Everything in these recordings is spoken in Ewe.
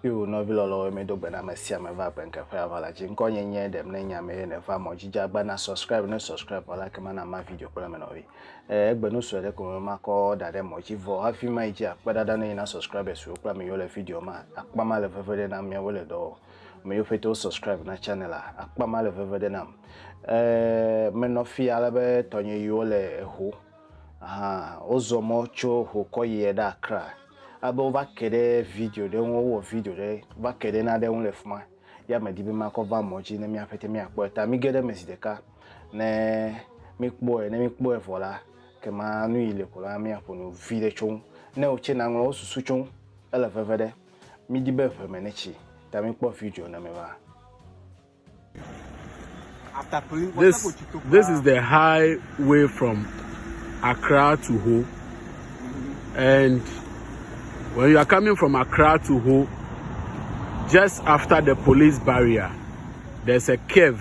Yo nɔvi lɔlɔwo mi do gbena me sia me va gbenkeƒe ava la dzi ŋkɔ nye nye ɖem ne nya me ne va mɔ dzi agba na subscribe ne subscribe wala ke mana ma video kple me nɔvi eh, egbe nu sue ɖe ko me ma kɔ da ɖe mɔ dzi vɔ hafi ma yi dzi akpe ɖaɖa ne yina subscribe suwo kple me yo le video ma akpa ma le veve ɖe na mia wo le dɔ Me yiwo pete wo subscribe na channel a, akpa ma le veve ɖe nam. Ɛɛ, menɔ fi ale be tɔnye yiwo le eho. Aha, wozɔ mɔ tso ho kɔ yiɛ ɖe Accra. Ale be wova ke ɖe video ɖe ŋu, wowɔ video ɖe va ke ɖe naɖe ŋu le fi ma. Ya medi be makɔ va mɔ dzi ne míaƒe te míakpɔɛ. Ta mige ɖe eme zi ɖeka ne míkpɔɛ. Ne míkpɔɛ vɔ la, ke ma nu yi le ko la, míaƒo nu viɖe tso ŋu. Ne wò tsɛ naŋlɔ wò susu tso ŋu. Ele veve ɖe. Mi di be ʋe me ne tsi ta mi kpɔ video na me va. This, this is the highway from Accra to Ho. And when you are coming from Accra to Ho, just after the police barrier, there's a cave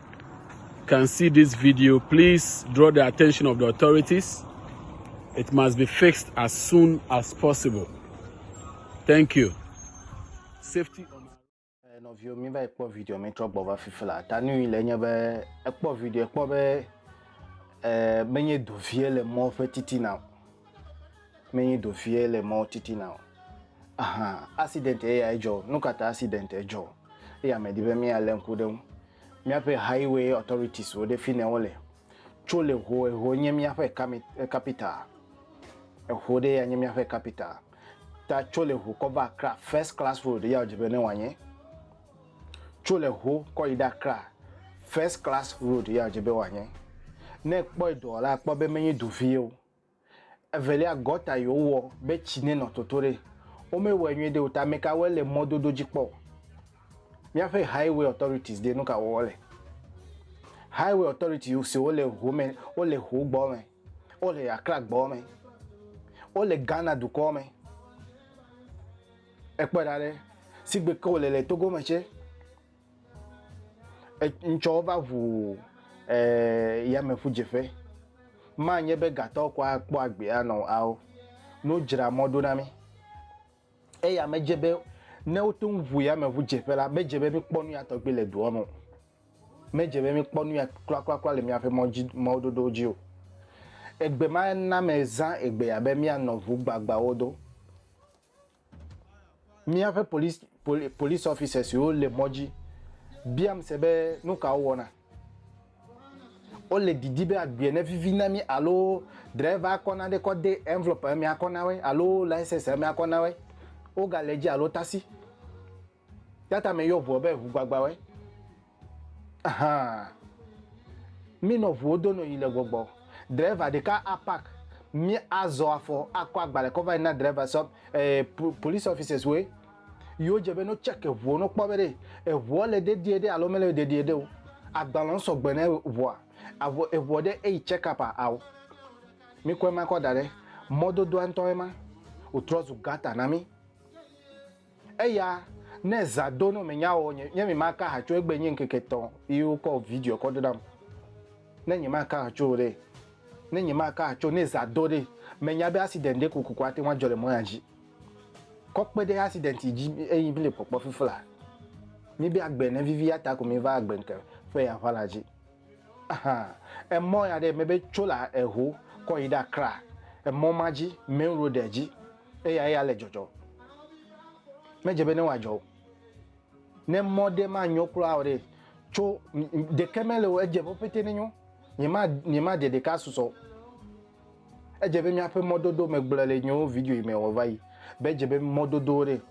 can see this video, please draw the attention of the authorities. It must be fixed as soon as possible. Thank you. Safety on eh, nɔviwo mi va ekpɔ video mi trɔ gbɔ va fifi la ta nu yi le nye be ekpɔ video ekpɔ be eh, menye dovie le mɔ ƒe titina o menyi do vie le mɔwo titina o. Aha, accident ye ya edzɔ. Nu ka ta accident edzɔ? Eya me di be míalé ŋku ɖe ŋu. Míaƒe highway authorities wo ɖe fi ne wole. Tso le ho, eho nye míaƒe kami, capital. Eho ɖe ya nye míaƒe capital. Ta tso le ho kɔ va Accra, first class road ya wodze be ne wòanye. Tso le ho kɔ yi ɖe Accra, first class road ya wodze be wòanye. Ne ekpɔe doa la, akpɔ be menyi do vie o. Evelia, gɔta yi wowɔ be tsi nenɔ toto ɖe. Womewɔe nyuie ɖe o ta ameka wɔe le mɔdodo dzi kpɔ o. Míaƒe highway authorities ɖe nuka wɔm wole? Highway authority siwo le ho me, wole ho gbɔ me, wole Accra gbɔ me, wole Ghana dukɔ me. Ekpɔe ɖa ɖe, sigbe ke wole le Togo me tse. Ŋtsɔ va ʋu eh, yameʋudzeƒe. Manye be gatɔwo kɔ akpɔ agbe anɔ ao. Ne wodzra mɔ ɖo na mí eya medze be ne wote ŋu ʋu yameʋudzeƒe la, medze be míkpɔ nuya tɔgbi le dua me o. Medze be míkpɔ nuya kplakplakpla le míaƒe mɔ dzi, mɔdodowo dzi o. Egbe ma na mezã egbea be míanɔ ʋu gbagbawo do. Míaƒe police poli police officers siwo le mɔ dzi biam se be nu ka wowɔna. Wole didi be agbea nevivi na mí alo driver akɔ nane kɔ de envelope me akɔ na woe alo license me akɔ na woe. Wogale edzi alo taxi. Yata me yɔ ʋuɔ be ʋu gbagbawɛ. Ahan. Mi nɔ ʋuwo do nɔ yi le gbɔgbɔ. Driver ɖeka a park. Mi a zɔ afɔ a kɔ agbalɛ kɔ vayi na driver sɔ eh, police officers woe. Yo dje be no check eʋuɔ no kpɔ be ɖe eʋuɔ le dedie ɖe alo mele dedie ɖe o. Agbalɛwo sɔgbe ne ʋua. Avɔ eʋuɔ ɖe eyi check up a ao. Mi kɔ ema kɔ daɖe. Mɔdodoa ŋtɔ ema. Wo trɔ zu gutter na mi. Eya ne zã do no menya o nye nye mi ma ka ha tso egbe nye ŋkeke tɔ yi wo kɔ video kɔ do nam ne nye ma ka ha tso ɖe ne nye ma ka ha tso ne zã do ɖe menya be accident ɖe kokoko ate ŋu adzɔ le mɔ ya dzi kɔ kpe ɖe accident yi dzi eyi mi le kpɔkpɔ fifla mi be agbe ne vivi ya ta ko mi va agbe ŋke ƒe ya ʋala dzi. Emɔ ya ɖe mebe tso le eho kɔ yi ɖe Accra, emɔ ma dzi, main road dzi eya eya le dzɔdzɔ. Medze be ne wòadzɔ o. Ne mɔ ɖe manyo kura o ɖe, tso ɖeke mele o, edze ƒe pete nenyo. Nyema nyema de ɖeka susɔ. Edze be míaƒe mɔdodo megblɔ le nyewo video yi me wòva yi. Be edze be mɔdodo ɖe,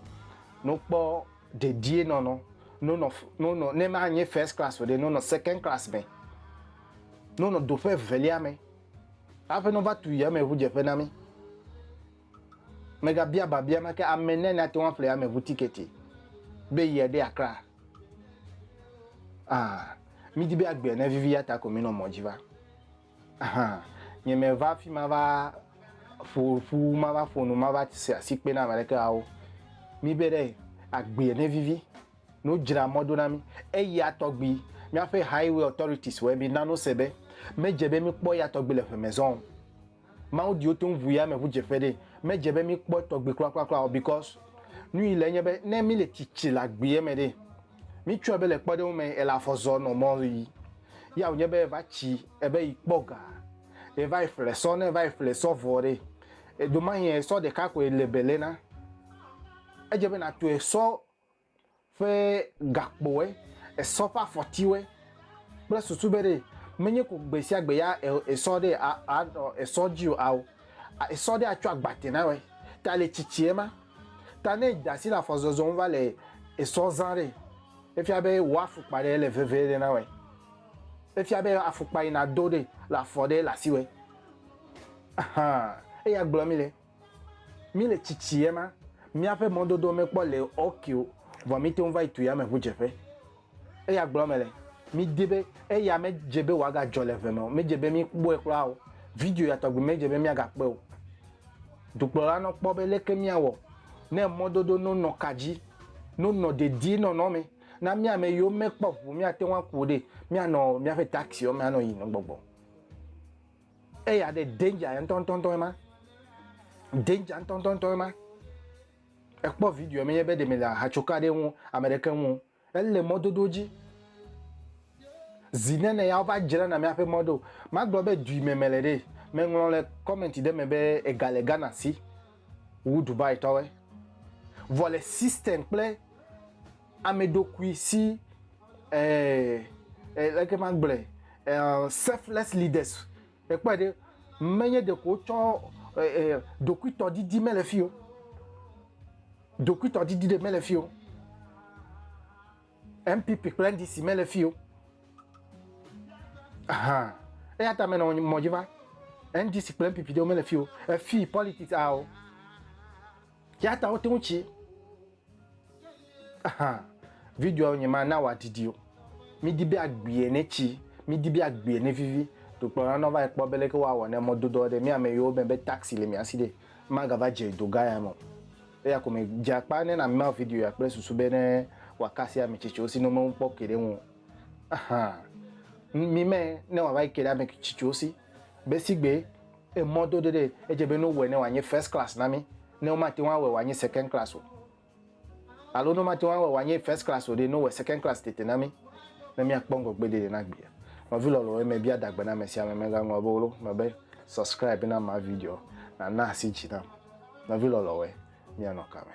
no kpɔ dedienɔnɔ nonɔ nonɔ ne manye first class o ɖe nonɔ second class me nonɔ do ƒe evelia me haƒe nova tu yameʋudzeƒe na mi megabia babia make ame ne nate ŋu aƒle yameʋu tiketi be yia ɖe akra ah midi be agbe ne vivi ya ta ko mi nɔ mɔ dzi va Hã. Nyemeva afi mava ƒo ƒu, mava ƒo nu, mava se asikpe na ame aɖeke ao. Míbe ɖe agbee ne vivi, ne wodzra mɔ do na mí. Eya tɔgbi, míaƒe Highway Authorities wɔe mína nose be medze be míkpɔ eya tɔgbi le ʋe me zã o. Mawu diwo toŋ ʋu yameʋudzeƒe ɖee. Medze be míkpɔ etɔgbi kplakplakpla o because nu yi le enye be ne míle tsitsi le agbee me ɖee, Mitsɔe be le kpɔɖeŋu me ele afɔ zɔ nɔ mɔ ɣi. Ya wònye be eva tsi ebe yi kpɔ ga. Ye va yi ƒle sɔ ne va yi ƒle sɔ vɔ ɖe. Edo ma yi sɔ ɖeka koe le bele na. Edze be na tɔe sɔ ƒe gakpoe, esɔ ƒe afɔtiwoe kple susu be ɖe menye ko gbe sia gbe ya esɔ ɖe a a nɔ esɔ dzi o ao esɔ ɖe atsɔ agbate na woe. Ta le tsitsi ema. Ta ne èda asi le afɔzɔzɔ ŋu va le esɔ zã ɖe, efia be wò afukpa ɖe le veve ɖe na wòe. Efia be afukpa yi nàdo ɖe le afɔ ɖe le asiwòe. Ahan, eya gblɔ mí le. Mí le tsitsi ema, míaƒe mɔdodoa mekpɔ le ok o, vɔ míte ŋu va yi tu yameʋudzeƒe. Eya gblɔm mele. Midi be eya medze be wòagadzɔ le ʋe me o. Medze be míkpɔe kura o. Video ya tɔgbi medze be míagakpɔe o. Dukplɔla nɔ kpɔ be leke míawɔ ne mɔdodo no nɔ ka dzi, no nɔ dedienɔnɔ me na mía ame yiwo mekpɔ ŋu míate ŋu aku o ɖe, míanɔ míaƒe taxiwo me anɔ yiyim nɔ gbɔgbɔ. Eya ɖe danger ya ŋutɔŋutɔŋutɔ ema. Danger ŋutɔŋutɔŋutɔ ema. Ekpɔ video menye be ɖe mele ahatsoka ɖe ŋu ame ɖeke ŋu o. Ele mɔdodo dzi. Zi nene ya wova dzrana míaƒe mɔ ɖo. Magblɔ be dui me mele ɖe. Meŋlɔ le comment ɖe me be ega le Ghana si wu Dubai tɔwoe. Vɔ le system kple ameɖokui si eh eh leke magblɔe eh selfless leaders. Èkpɔe ɖe, menye ɖeko wotsɔ ɖokuitɔdidi mele fi o. Ɖokuitɔdidi ɖe mele fi o. NPP kple NDC mele fi o. Aha. Eya ta menɔ mɔ dzi va. NDC kple NPP ɖewo mele fi o. Efi politics ao. Ya ta wote ŋu tsi. Videoa nye ma na wòadidi o. Midi be agbie ne tsi, midi be agbie ne vivi. Dokplɔla nɔ va yi kpɔ be leke woawɔ ne mɔdodoa ɖe mía me yiwo me be taxi le mía si ɖe magava dze dogã ya me o. Eya ko me dze akpa ne na mía video ya kple susu be ne wòakasi ame tsitsiwo si ne wome kpɔ ke ɖe ŋu o. Ahan. Mi me ne wòava yi ke ɖe ame tsitsiwo si be sigbe Emɔ dodo ɖee, edze be ne wowɔe ne wòanye first class na mí, ne womate ŋu awɔe wòanye second class o, alo ne womate ŋu awɔe wòanye first class o ɖe, ne wowɔe second class tete na mí, ne míakpɔ ŋgɔgbedede na gbea. Nɔvi lɔlɔ̃ wòe mebia adagbe na amesiame, megaŋlɔ be wolo me be, Subscribe na ma video, nàna asi dzi nam. Nɔvi lɔlɔ̃ wòe, míanɔ kame.